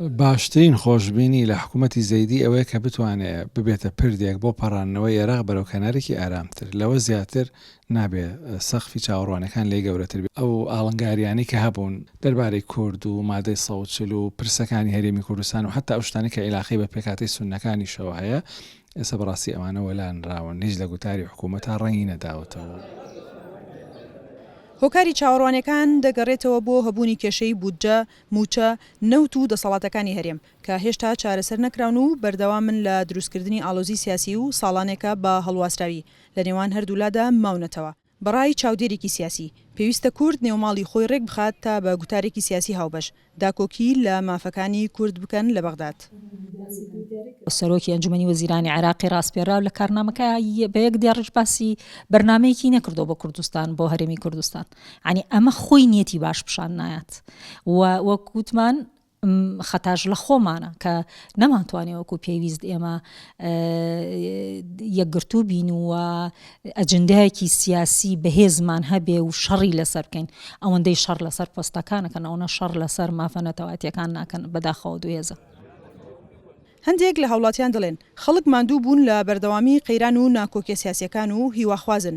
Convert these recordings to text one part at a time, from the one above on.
باشترین خۆشبینی لە حکوومەتی زەیدی ئەوەیە کە بتوانێ ببێتە پردێک بۆ پەڕاندنەوەی ئێراق بەرەو کەنارێکی ئارامتر. لەوە زیاتر نابێ سەقفی چاوەڕوانییەکان لێی گەورەتر بێ. ئەو ئاڵنگارییانەی کە هەبوون دەربارەی کورد و مادەی سەد و چل و پرسەکانی هەرێمی کوردستان و حەتتا ئەو شتانەی کە ئیلاقەی بە پێکهاتەی سوننەکانیشەوە هەیە، ئێستا بەڕاستی ئەوانە وەلانراون. هیچ لە گوتاری حکوومەتا ڕەنگی نەداوەتەوە. هۆکاری چاوەڕوانییەکان دەگەڕێتەوە بۆ هەبوونی کێشەی بودجە مووچە، نەوت و دەسەڵاتەکانی هەرێم، کە هێشتا چارەسەر نەکراون و بەردەوامن لە دروستکردنی ئاڵۆزی سیاسی و ساڵانێکە بە هەڵواسراوی لە نێوان هەردوولادا ماونەتەوە. بە ڕای چاودێرێکی سیاسی، پێویستە کورد نێوماڵی خۆی ڕێک بخات تا بە گوتارێکی سیاسی هاوبەش، داکۆکی لە مافەکانی کورد بکەن لە بەغداد. سەرۆکی ئەنجومەنی وەزیرانی عێراقی ڕاسپێرراو لە کارنامەکەی بە یەک دێڕیش باسی بەرنامەیەکی نەکردووە بۆ کوردستان، بۆ هەرێمی کوردستان. یانی ئەمە خۆی نیەتی باش پیشان نایات و وەک وتمان خەتاش لە خۆمانە کە نەمانتوانێ وەکو پێویست ئێمە یەکگرتوو بین و ئەجندایەکی سیاسی بەهێزمان هەبێ و شەڕی لەسەر بکەین ئەوەندەی شەڕ لەسەر پۆستەکانەکەن ئەوە شەڕ لەسەر مافەنەتەواتیەکان ناکەن بەداخەوە دوێزە. هەندێک لە هاوڵاتیان دەڵێن، خەڵک ماندوو بوون لە بەردەوامی قەیران و ناکۆکیە سیاسیەکان و هیواخوازن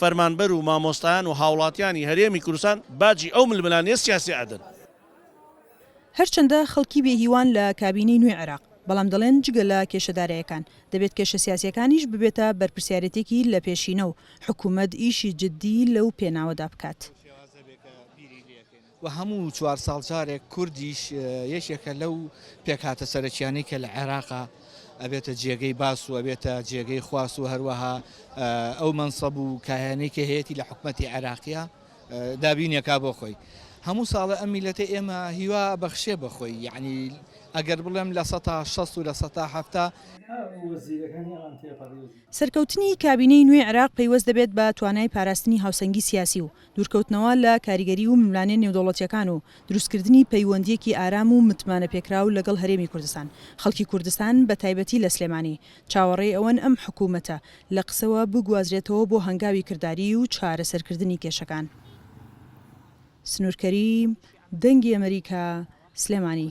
فەرمانبەر و مامۆستایان و هاوڵاتیانی هەرێمی کوردستان باجی ئەو ململانێ سیاسیە ئەدەن. هەرچەندە خەڵکی بێ هیوان لە کابینەی نوێی عێراق، بەڵام دەڵێن جگە لە کێشە دارایەکان، دەبێت کێشە سیاسیەکانیش ببێتە بەرپرسیارێتێکی لە پێشینە و حکومەت ئیشی جدی لەو پێناوەدا بکات. و هەموو چوار ساڵ جارێک کوردیش یەکێکە لەو پێکهاتە سەرەکیانەی کە لە عێراقا ئەبێتە جێگەی باس و ئەبێتە جێگەی خواست و هەروەها ئەو مەنسەب و کایانەی کە هەیەی لە حکومەتی عێراقیە دابینێکا بۆ خۆی هەموو ساڵە ئەم میلەتە ئێمە هیوا بەخشێ بەخۆی یعنی ئەگەر بڵێم لە سە شەست و لە سە هەفتا سەرکەوتنی کابینەی نوێی عێراق پەیوەست دەبێت بە توانای پاراستنی هاوسەنگی سیاسی و دوورکەوتنەوە لە کاریگەری و ململانێ نێودەوڵەتییەکان و دروستکردنی پەیوەندییەکی ئارام و متمانەپێکراو لەگەڵ هەرێمی کوردستان. خەڵکی کوردستان، بە تایبەتی لە سلێمانی، چاوەڕێی ئەوەن ئەم حکوومەتە لە قسەوە بگوازرێتەوە بۆ هەنگاوی کرداریی و چارەسەرکردنی کێشەکان. سنوور کەریم، دەنگی ئەمەریکا، سلێمانی.